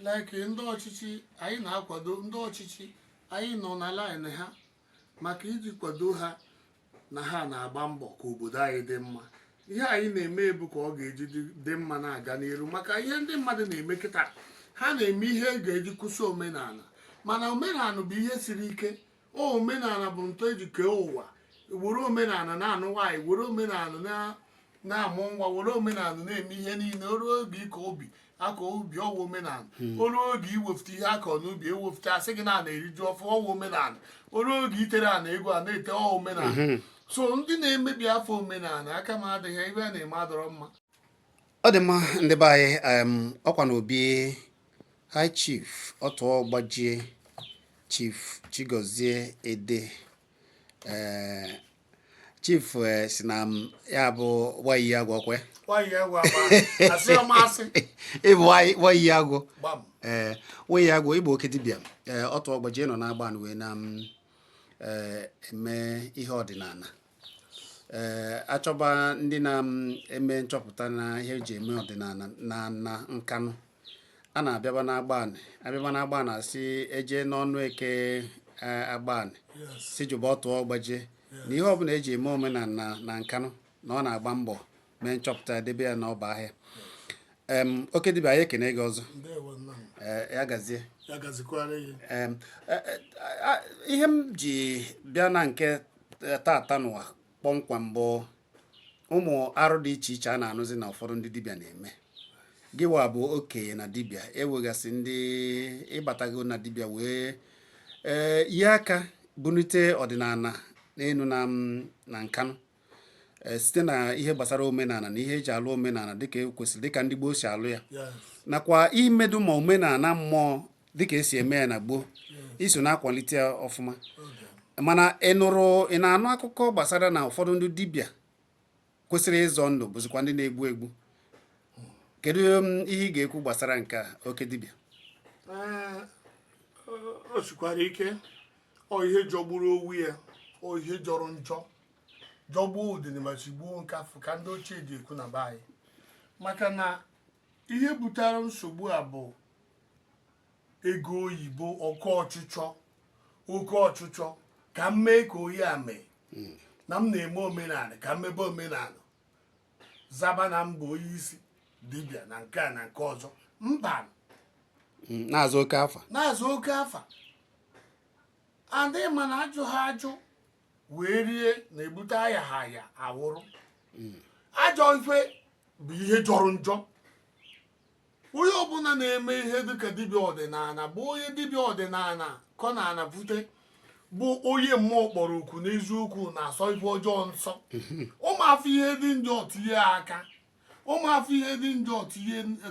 like ndị ọchịchị anyị na-akwado ndị ọchịchị anyị nọ na line ha maka iji kwado ha na ha na-agba mbọ ka obodo anyị dị mma ihe anyị na-eme bụ ka ọ ga-eji dị mma na-aga n'iru maka ihe ndị mmadụ na-eme kịta ha na-eme ihe e ga-eji kwụsị omenala mana omenala bụ ihe siri ike omenala bụ ntọ eji kee ụwa were omenala na-anụ nwaanyị were omenala na-amụ nwa were omenala na-eme ihe niile o ruo oge ịkọ ubi akọọ ubi ọ wụ omenala hmm. o ruo oge iwefute ihe akọ n'ubi ewefute asị gị na a na-eri ji ọfụụ ọ wụ omenala o ruo oge itere ana egwu a na-ete ọ wụ omenala hmm. so ndị na-emebi afa omenala aka m adịghị ihe ha na-eme adịrọ mma ọ dị mma ndị be anyị em, ọkwa n'obi high chief ọtụọ gbajie chief chigozie ede eh, chief eh, sị na ya bụ wayi agwụ kwe nwaanyị ya gwa agba asị ya masị ịbụ wayi- wayi agwụ gbam ee wayi agwụ ị bụ oke dibịa ee ọtụọ gbajie nọ n'agbanị wee na ee eme ihe ọdịnala ee achọba ndị na-eme nchọpụta na ihe eji eme ọdịnala na nkanụ a na-abịaba n'agbanị abịaba n'agbanị asị eje n'ọnụ eke eh, agbanị sị jụba ọtụọ gbajie na ihe ọbụla eji eme omenala na nkanụ na ọ na-agba mbọ mee nchọpụta ya debe ya n'ọba ahịa em oke dibịa anyị ekene gị ọzọ ndewo nna m ee ya gazie ya gazikwara gị Em, e- e- a- ihe m ji bịa na nke e, taata nụwa kpọmkwem bụ ụmụ arụ dị iche iche a na-anụzi na ụfọdụ ndị dibịa na-eme gịwa bụ okenye na dibịa ewegasị ndị batago na dibịa wee ee nye aka bunite ọdịnala n'elu na m- na nkanụ e, site na ihe gbasara omenala na ihe eji alụ omenala dịka ekwesịrị dịka ndị gboo si alụ ya nakwa imedu ma omenala mmụọ dịka esi eme ya na gboo i so na-akwalite ọfụma mana ị nụrụ ị na-anụ akụkọ gbasara na ụfọdụ ndị dibịa kwesịrị ịzọ ndụ bụzikwa ndị na-egbu egbu kedu um, ihe ị ga-ekwu gbasara nke oke dibịa eh, o sikwara ike ọ ihe jọgburu onwe ya ọ ihe jọrọ njọ jọgbuo udene ma sigbuo nkafụ ka ndị ochie ji ekwu na be anyị maka na ihe butere nsogbu a bụ ego oyibo oke ọchịchọ oke ọchịchọ ka m mee ka onye a mee na m na-eme omenala ka m mebe omenala zaba na m bụ onye isi dibịa na nke a na nke ọzọ mba Mm, na-azụ oke afa na-azụ oke afa adịghị mana ajụ ha ajụ wee rie na-ebute aya ha aya awụrụ ajọ ife bụ ihe jọrọ njọ onye ọbụla na-eme ihe dịka dibịa ọdịnala bụ onye dibịa ọdịnala kọ na ana bute bụ onye mmụọ kpọrọ oku n'eziokwu na-asọ ife ọjọọ nsọ ọ ma afụ ihe dị njọ tinye aka ọ ma afụ ihe dị njọ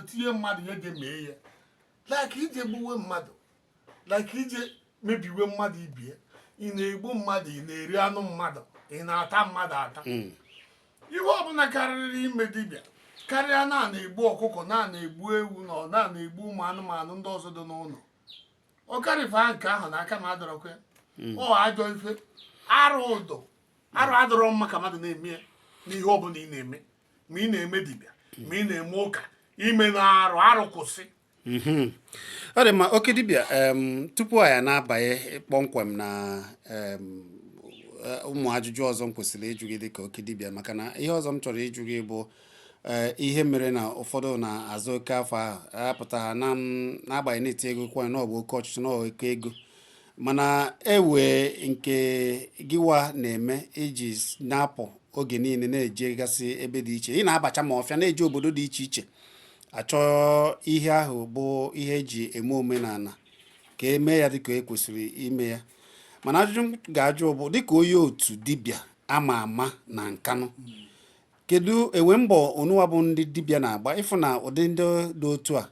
tinye mmadụ ihe ga-emee ya like ije gbuwe mmadụ like ije mebiwe mmadụ ibe ya ị na-egbu mmadụ ị na-eri anụ mmadụ ị na-ata mmadụ ata hmm. ihe ọbụla karịrị ime dibịa karịa na na-egbu ọkụkọ na na-egbu ewu na ọ na na-egbu ụmụ anụmanụ ndị ọzọ dị n'ụlọ ọ karịfa nke ahụ na aka m adọrọkwa ya hmm. ọ ajọ ife arụ ụdọ arụ adọrọ mma ka mmadụ na-eme ya n'ihe ọbụla ị na-eme ma ị na-eme dibịa ma ị na-eme ụka ime na arụ arụ kwụsị mhm. ọ dị mma oke dibịa tupu anyị na-abanye kpọmkwem na Eh, ụmụ ajụjụ ọzọ m kwesịrị ịjụ gị dị ka oke dibịa maka na ihe ọzọ m chọrọ ịjụ gị bụ eh, ihe mere na ụfọdụ na-aza oke afa apụta ha na n'agbanyeghị na-eti ego kwanye na ọ bụ oke ọchịchọ na oke ego mana ewe nke gịwa na-eme i ji na-apụ oge niile na-ejegasị ebe dị iche ị na-abacha ma ọfịa na-eje obodo dị iche iche achọ ihe ahụ bụ ihe eji eme omenala ka e mee ya dịka e kwesịrị ime ya mana ajụjụ m ga-ajụ bụ dịka onye otu dibịa ama ama na nkanụ kedu enwe mbọ unuwa bụ ndị dibịa na-agba ịfụ na ụdị ndị dị otu a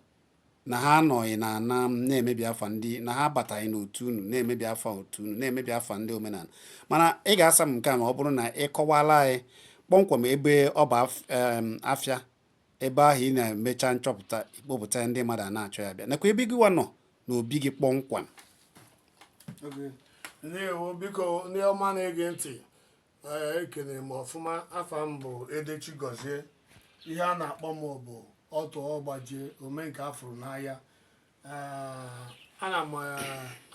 na ha anọghị na ana na-emebi afa ndị na ha abataghị n'otu unu na-emebi afa otu unu na-emebi afa ndị omenala mana ị ga-asa m nke a ma ọ bụrụ na ị kọwala anyị kpọmkwem ebe ọ bụ afịa ebe ahụ ị na-emecha nchọpụta ikpọpụta ndị mmadụ a na-achọ ya bịa nakwa ebe gịwa nọ na obi gị kpọmkwem ndewo biko ndị ọma na-ege ntị ekene m ọfụma afa m bụ Ede Chigọzie ihe a na-akpọ m bụ ọtụ ọgbajie ome nke afụrụ n'anya ana m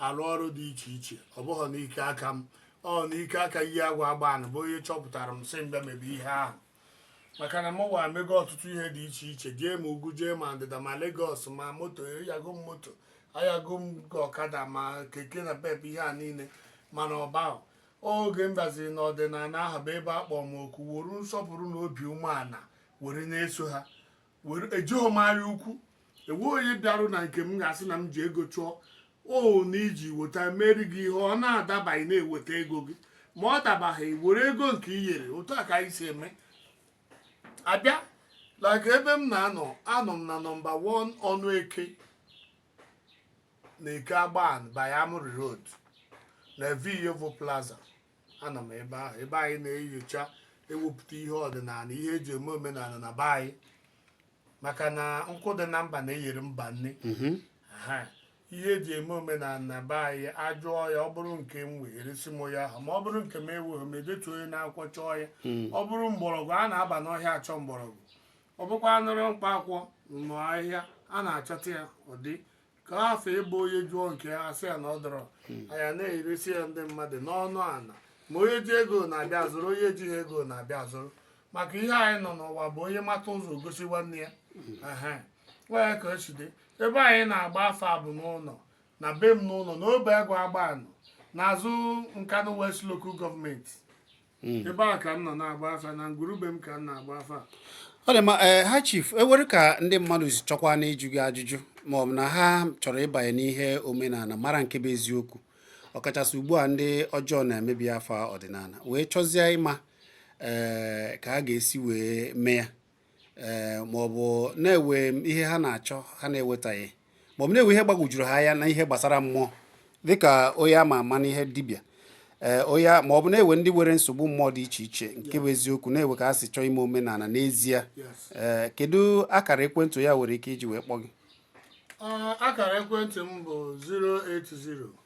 arụ ọrụ dị iche iche ọ bụghị n'ike aka m ọ n'ike aka iyi agwa Agbanị bụ onye chọpụtara m sị m bịa mebe ihe ahụ maka na mụwa mego ọtụtụ ihe dị iche iche jee ma ugwu jee ma ndịda ma Lagos ma moto anyago m moto anyago m ọkada ma keke napep ihe a niile mana ọ bụ oge m baziri n'ọdịnala ahụ bụ ebe a kpọọ m oku were nsọpụrụ na obi umeala were na-eso ha were ejighị m anya ukwu enwe onye bịarụ na nke m ga-asị na m ji ego chụọ o na iji weta mere gị ihe ọ na-adabaghị m weta ego gị ma ọ dabaghị were ego nke i nyere otu a ka anyị si eme abịa like ebe m na-anọ anọ m na nọmba 1 ọnụ eke na eke Agbanị by Amurri Road na Viyevo Plaza anọ m ebe ahụ ebe anyị na-enyocha ewepụta ihe ọdịnala ihe eji eme omenala na be anyị maka na nkụ dị na mba na-eyere mba nni Aha. ihe eji eme omenala na be anyị ajụọ ya ọ bụrụ nke m were eresi m ya ahụ ma ọ bụrụ nke m eweghị m edetu ya n'akwụkwọ chọọ ya ọ bụrụ mgbọrọgwụ a na-aba n'ọhịa achọ mgbọrọgwụ ọ bụkwanụrụ mkpa akwụkwọ na ahịhịa a na-achọta ya ụdị ka afọ ịbụ onye jụọ nke ya asị ya na ọ dọrọ anyị na-eresi ya ndị mmadụ n'ọnụ ala ma onye ji ego na-abịa azụrụ onye ejighị ego na-abịa azụrụ maka ihe anyị nọ n'ụwa bụ onye mata ụzọ gosi nwanne ya Ehe. Ọ ya ka o si dị ebe anyị na-agba afa bụ n'ụlọ na be m n'ụlọ na Obeagụ Agbanị n'azụ Nkanu West local government hmm. ebe a ka m nọ na-agba afa na ngwurube m ka m na-agba afa ọ dị ma eh, ha chief ewere ka ndị mmadụ si chọkwanụ ịjụ gị ajụjụ ma ọ bụ na ha chọrọ ịbanye n'ihe omenala mara nke bụ eziokwu ọkachasị ugbu a ndị ọjọọ na-emebi afa ọdịnala wee chọzie ịma ee eh, ka ha ga-esi wee mee ya ee eh, maọbụ na ewe ihe ha na-achọ ha na-ewetaghị maọbụ na ewe ihe gbagwojuru ha anya na ihe gbasara mmụọ dịka onye ama ama n'ihe dibịa ee eh, onye maọbụ na ewe ndị nwere nsogbu mmụọ dị iche iche nke bụ eziokwu na ewe ka ha si chọọ ime omenala n'ezie ee eh, kedu akara ekwentị ha nwere ike iji wee kpọọ gị ah, akara ekwentị m bụ 090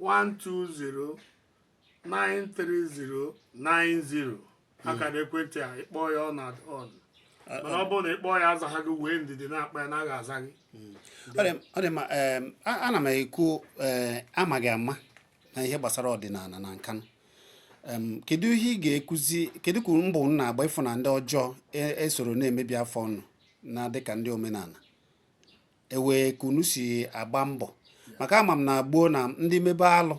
120-930-90 akara ekwentị a ị kpọọ ya ọ nọ on mana ọ bụrụ na ị kpọọ ya azaghị gị wee ndidi na-akpọ ya na a ga-aza gị Ọ dị- ọ dị mma em, a- ana m ekwu eh, a ma gị ama na ihe gbasara ọdịnala na Nkanu Em, kedu ihe ị ga-ekuzi kedu ka mbọ unu na-agba ịfụ na ndị ọjọọ e- esoro na-emebi afa unu na dịka ndị omenala ewe ka unu si agba mbọ maka ama m na gboo na ndị mebe alụ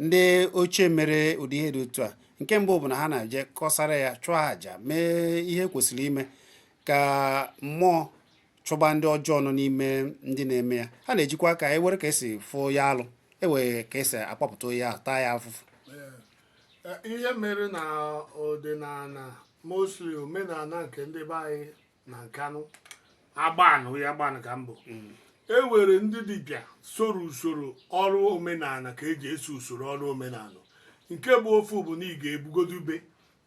ndị ochie mere ụdị ihe dị otu a nke mbụ bụ na ha na-eje kọsara ya chụọ àjà mee ihe e kwesịrị ime ka mmụọ chụba ndị ọjọọ nọ n'ime ndị na-eme ya ha na-ejikwa aka e were ka esi fụ ya alụ ewee ka esi akpọpụta onye ahụ taa ya afụfụ ihe mere na ọdịnala mostly omenala nke ndị be anyị na Nkanu Agbanị ya Agbanị ka m bụ mm. e were ndị dibịa soro usoro ọrụ omenala ka eji eso usoro ọrụ omenala nke bụ ofu bụ na ị ga-ebugodo ube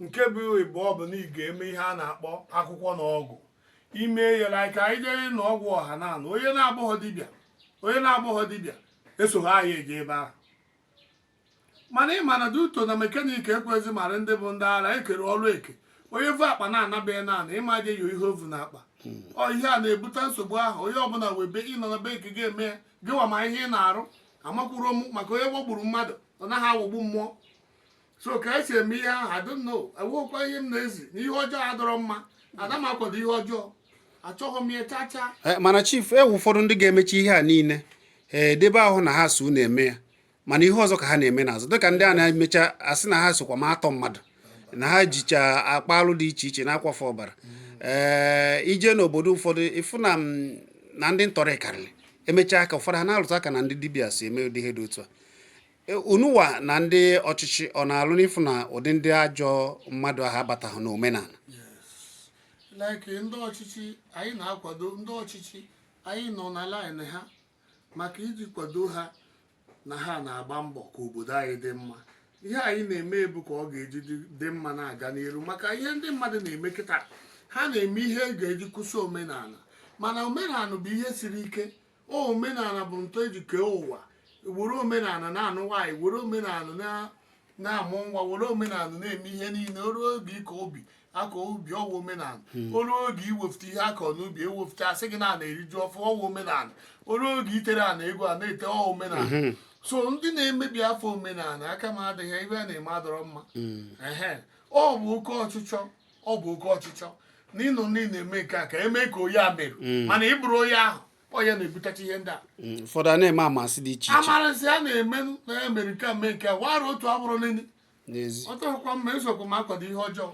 nke bụ ịbụọ bụ na ị ga-eme ihe a na-akpọ akwụkwọ na ọgwụ ime ya like anyị jere na ọgwụ ọha na anụ onye na-abụghọ dibịa onye na-abụghọ dibịa esoghọ anyị eje ebe ahụ mana ị ma na duto na mekaniki ekwezi mara ndị bụ ndị ara ekere ọrụ eke onye vu akpa na-anabeghị naanị ịma aja yo ihe o vu n'akpa ọ ihe a na-ebute nsogbu ahụ onye ọbụla webe ịnọ na be nke ga-eme ya gịwa ma ihe ị na-arụ amakwuru m maka onye ghọgburu mmadụ ọ naghị aghọgbu mmụọ so ka esi eme ihe ahụ I don't know enweghịkwa ihe m na-ezi na ihe ọjọọ adọrọ mma ada m akwado ihe ọjọọ achọghị m ya chaa chaa eh, mana chief e nwe ụfọdụ ndị ga-emecha ihe a niile ee eh, debe ahụ na ha so na-eme ya mana ihe ọzọ ka ha na-eme n'azụ dịka ndị a na-emecha asị na ha sokwa na-atọ mmadụ na ha jicha akpa alụ dị iche iche na-akwafu ọbara ee eh, i je n'obodo ụfọdụ ị fụ na mm, na ndị ntọrị karịrị e mechaa ka ụfọdụ ha na-alụtụ aka na ndị dibịa so eme ụdị ihe dị otu a e, unuwa na ndị ọchịchị ọ na-alụ n'ịfụ na ụdị ndị ajọ mmadụ ahụ abataghị n'omenala like ndị ọchịchị anyị na-akwado ndị ọchịchị anyị nọ na line ha maka iji kwado ha na ha na-agba mbọ ka obodo anyị dị mma ihe anyị na-eme bụ ka ọ ga-eji dị mma na-aga n'iru maka ihe ndị mmadụ na-eme kịta ha na-eme ihe e ga-eji kwụsị omenala mana omenala bụ ihe siri ike omenala bụ ntọ e ji kee ụwa were omenala na-anụ nwaanyị were omenala na-amụ nwa were omenala na-eme ihe niile o ruo oge ịkọ ubi akọ ubi ọ wụ omenala hmm. o ruo oge iwefute ihe akọ n'ubi e wefute a sị gị na a na-eri ji ọfụ ọ wụ omenala o ruo oge itere ana egwu a na-ete ọ wụ omenala hmm. so ndị na-emebi afa omenala aka m adịghị ihe ha na-eme adọrọ mma hmm. ọ bụ oke ọchịchọ ọ bụ oke ọchịchọ na ịnụ ndị na-eme nke a ka eme ka onye a mere mana ị bụrọ onye ahụ onye na-ebutacha ihe ndị a mm, ụfọdụ a na-eme amansị dị iche iche amarasị a na-eme na ya mere nke a mee nke a wara otu a bụrụ n'ili n'ezi ọ dọrọkwa mma esokwa m akwado ihe ọjọọ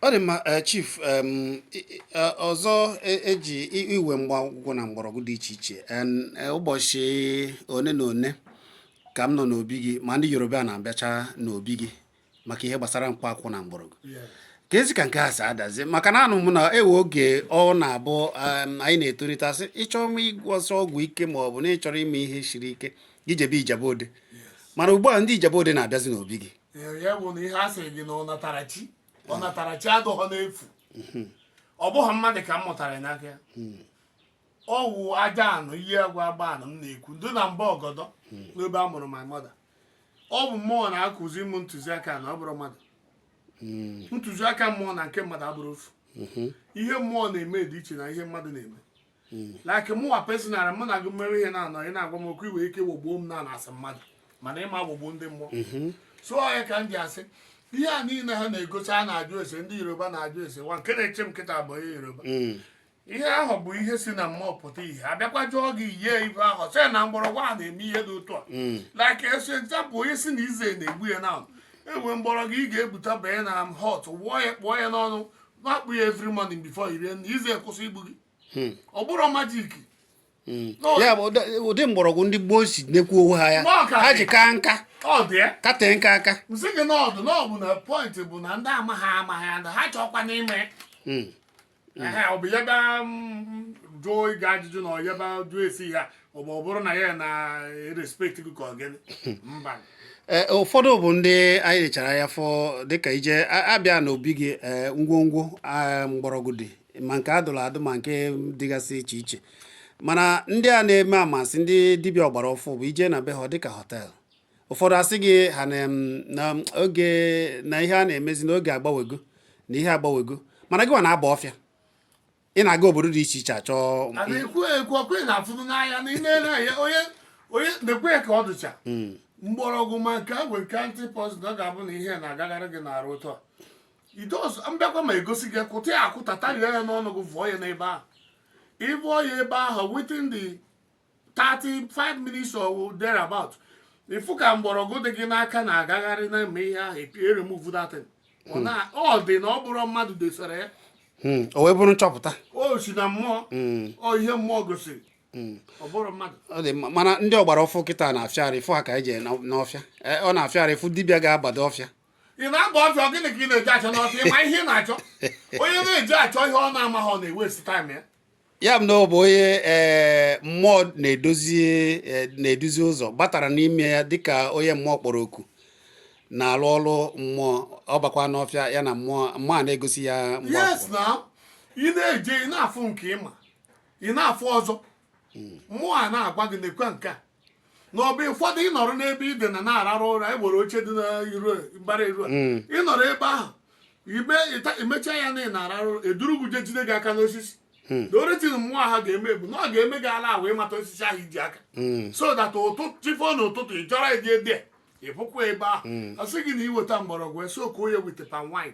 ọ dị mma eh, chief em, i- i- eh, ọzọ e- eji i- iwe mkpa akwụkwọ na mgbọrọgwụ dị iche iche En, eh, ụbọchị one na one ka m nọ n'obi gị ma ndị yoruba na-abịacha n'obi gị maka ihe gbasara mkpa akwụkwọ na mgbọrọgwụ kezi ka nke a si adazi maka na anụ m na e nwe oge ọ na-abụ um, anyị na-etolite a sị ị chọrọ ịma ịgwọsi ọgwụ ike ma ọ bụ na ị chọrọ ime ihe siri ike i jebe ijebu ode mana ugbu a ndị ijebu ode na-abịazi n'obi gị ya bụ na ihe a sịrị gị na ọnatarachi ọnatarachi adọghọ n'efu mhm. ọ bụghị mmadụ ka m mụtara ya n'aka ya hmm. ọ wụ aja anụ ihe agwa agba anụ m na-ekwu ndị na mba ọgọdọ hmm. n'ebe a mụrụ my mother ọ bụ mmụọ na-akụzi m ntụziaka na ọ bụrọ mmadụ hmm. ntụziaka mmụọ na nke mmadụ abụrọ ofu mhm. ihe mmụọ na-eme dị iche na ihe mmadụ na-eme hmm. like mụwa personal mụ na gị mere ihe na-anọ ị na-agwa m okwu i nwe ike ghọgbuo m na asị mmadụ mana ị ma ghọgbuo ndị mmụọ mhm. so ọ ya ka m ji asị ihe a niile ha na-egosi a na-ajụ ese ndị yoruba na-ajụ ese nwa nke na-eche m kịta bụ onye yoruba hmm. ihe ahụ bụ ihe si na mmụọ pụta ihe abịakwa jụọ gị yie ibe ahụ sị na mgbọrọgwụ a na-eme ihe dị otu a hmm. like asị example onye si na eze na-egbu ya na enwe mgbọrọgwụ ị ga-ebute banye na hot water kpụọ ya n'ọnụ na-akpụ ya every morning before iri na eze kwụsị igbu gị hmm. ọ bụrọ magic hmm. ya bụ ụdị mgbọrọgwụ ndị gboo si nekwa onwe ha anya ha ji kaa nka katee nka aka m sị gị n'ọdụ n'ọbụ na point bụ na ndị amaghị amaghị ha chọkwa n'ime ehe ọ bụ ya bịa mm, jụọ gị ajụjụ na ọ ya bịa jụọ ese ya ọ bụ ọ bụrụ na ya na-erespect gị ka ọ gịnị mba Ee, ụfọdụ bụ ndị anyị lechara anya fụ dịka ije a- abịa n'obi gị ee, ngwongwo a, mgbọrọgwụ dị ma nke adụrụ adụ ma nke dịgasị iche iche mana ndị a na-eme amasị ndị dibịa ọgbara ọfụ bụ ije na be ha ọ dịka hotel ụfọdụ asị gị ha na oge na ihe a na-emezi n'oge agbanwego na ihe agbanwego mana gị nwa na-aba ọfịa ị na-aga obodo dị iche iche achọ onye mekwe ka ọ dụcha hmm. mgbọrọgwụ ma nke a were ka anti poison ọ ga-abụ na ihe na-agagharị gị n'arụ ụtọ idos mbịakwa ma egosi gị kụta ya akụta tarie ya n'ọnụ gị vụọ ya n'ebe ahụ ịbụọ ya ebe ahụ within the 35 minutes or thereabout ịfụ ka mgbọrọgwụ dị gị n'aka na-agagharị na-eme ihe ahụ eremove that thing. Ọ na- ọ dị na ọ bụrọ mmadụ desara ya Mm, o wee bụrụ nchọpụta o si na mmụọ ọ ihe mmụọ gosiri ọ bụrọ mmadụ ọ dị mma mana ndị ọgbara ọfụ kịta na-afịa arụ ịfụ ha ka eje n'ọfịa Eh, ọ na-afịa arụ ịfụ dibịa ga-abado ọfịa ị na-aba ọfịa gịnị ka ị na-eje achọ n'ọfịa ịma ihe ị na-achọ onye na-eje achọ ihe ọ na-amaghị ọ na-ewaste time ya ya bụ na ọ bụ onye ee eh, mmụọ na-edozi eh, na-eduzi ụzọ batara n'ime ya dịka onye mmụọ kpọrọ oku na-alụ ọrụ mmụọ ọ bakwa n'ọfịa ya na mmụọ mmụọ a na-egosi ya yes na ị na-eje ị na-afụ nke ịma ị na-afụ ọzọ mmụọ a na-agwa gị nekwa nke a n'ọbụ ụfọdụ ịnọrọ n'ebe idina na-ararụ ụra e nwere oche dị n'iru mbara iru a Mm. ịnọrọ ebe ahụ ime ịta- imecha ya na ị na-ararụ ụra eduru gị je jide gị aka n'osisi Mm. the only thing mmụọ ahụ ga-eme bụ na ọ ga-eme gị allow ịmata osisi ahụ iji aka Mm. so that ụtụtụ chi fo n'ụtụtụ ị chọrọ ịdị ede ịpụkwa ebe ahụ Mm. ọ sị gị na iweta mgbọrọgwụ esoak ya with palm wine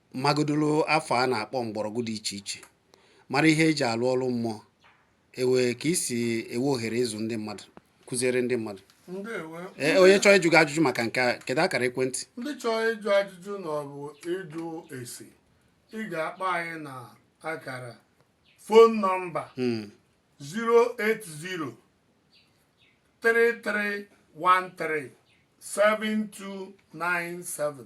magodoro afa a na-akpọ mgbọrọgwụ dị iche iche mara ihe eji alụ ọrụ mmụọ enwee ka isi enwe ohere ịzụ ndị mmadụ kụziere ndị mmadụ e, onye chọọ ịjụ gị ajụjụ maka nke a kedu akara ekwentị ndị chọọ ịjụ ajụjụ na ọ bụ ịjụ ese ị ga-akpọ anyị na akara phone number 080 hmm. 3313 7297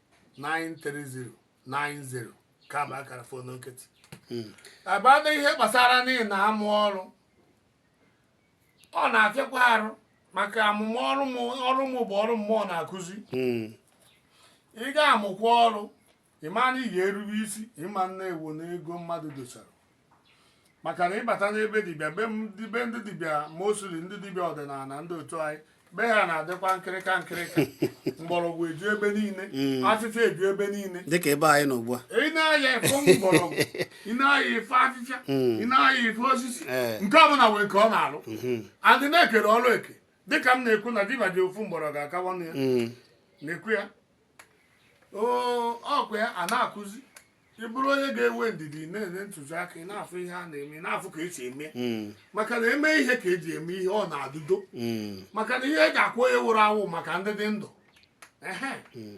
93090 ka bụ akara fon nkịtị abata ihe gbasara ndị na-amụ ọrụ ọ na-afịakwa arụ maka amụmụ ọrụ m ọrụ m bụ ọrụ mmụọ na-akụzi Mm. ị ga-amụkwa ọrụ ịma na ị ga-erube isi ịma na ewu na ego mmadụ dosara maka na ịbata n'ebe dibịa be ndị dibịa mostly ndị dibịa ọdịnala ndị otu anyị be ha na-adịkwa nkịrịka nkịrịka mgbọrọgwụ eju ebe niile mm. afịfịa eju ebe niile dịka ebe anyị nọ ugbu a ị na-aya ịfụ mgbọrọgwụ ị na-aya ịfụ afịfịa mm. ị na-aya ịfụ osisi eh. nke ọ bụla nwere nke ọ na-alụ mm-hmm. adị na-ekere ọrụ eke dịka m na-ekwu na dibịa ji ofu mgbọrọgwụ akawa ya mm. na-ekwu ya ọkwa ya a na-akụzi ị bụrụ onye ga-enwe ndidi na-enye ntụziaka ị na-afụ ihe a na-eme na-afụ ka esi eme hmm. maka na eme ihe ka eji eme ihe ọ na-adị udo hmm. maka na ihe eji akwa onye wụrụ awụ maka ndị dị ndụ hmm.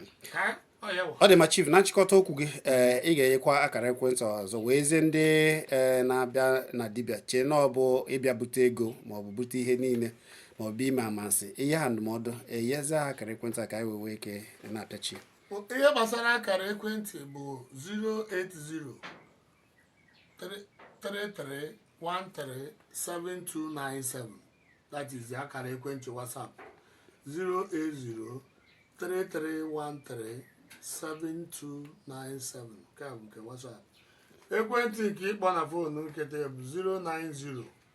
ọ dị ma chief na nchịkọta okwu gị eh, ị ga-enyekwa akara ekwentị ọzọ wee zie ndị eh, na-abịa na dibịa chee na ọ bụ ịbịa bute ego ma ọ bụ bute ihe niile ma ọ bụ ime amasị i nye ha ndụmọdụ enyezi ha akara ekwentị a ka anyị wee nwee ike na-apịachi ihe gbasara akara ekwentị bụ 08033137297 that is akara ekwentị whatsapp 08033137297 nke a bụ nke whatsapp ekwentị nke ịkpọ na fonu nkịtị bụ 090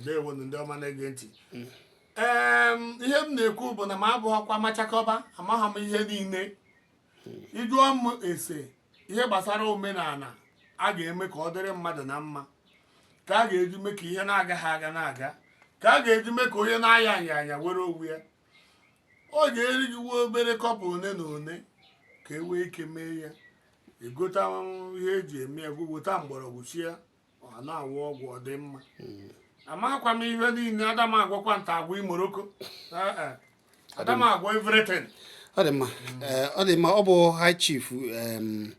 ndewo ndị ọma na-ege ntị mm. ihe m na-ekwu bụ na m abụghịkwa machakọba amaghị m ihe niile ịjụọ m ese ihe gbasara omenala a ga-eme ka ọ dịrị mmadụ na mma ka a ga-eji mee ka ihe na-agaghị aga na-aga ka a ga-eji mee ka onye na-aya aya aya were onwe ya ọ ga-eri gị nwa obere kọbọ one na one ka e wee ike mee ya egota ihe eji eme ya gwuo weta mgbọrọgwụ shie ya ọ na-aṅụ ọgwụ ọ dị mma amakwa m ihe niile ada m agwọkwa nta agwọ imoroko Eh, eh. ada m agwọ everything ọ dị mma Ee, ọ dị mma ọ bụ high chief em,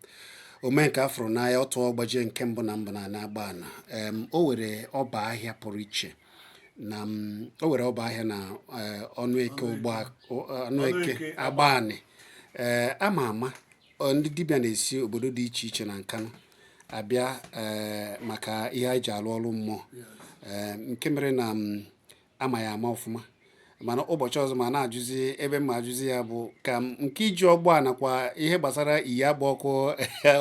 Omenkeafụrụanya Otuọgbajie nke mbụ na mbụ na na-agba ana Em, o were ọba ahịa pụrụ iche na m, o were ọba ahịa na eh, ọnụ eke ụgbọ ọnụ eke Ọnụeke, Agbanị ee ama ama ndị dibịa na-esi obodo dị iche iche na Nkanụ abịa eh, maka ihe anyị ji alụ ọrụ mmụọ eh, nke mere na mm, ama ya ama ọfụma mana ụbọchị ọzọ ma na-ajụzi ebe m ajụzi ya bụ ka nke iji ọgbọ a nakwa ihe gbasara iyi agba ọkụ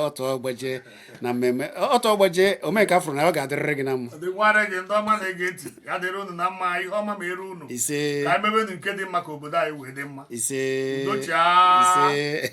Otuọgbajie na mmemme Otuọgbajie Omenkeafụrụanya ọ ga-adịrịrị gị na mma dịkwara gị ndị ọma na-ege ntị ya dịrị unu na mma ihe ọma meere unu ise ka emebenu nke dị mma ka obodo anyị wee dị mma ise udochia ise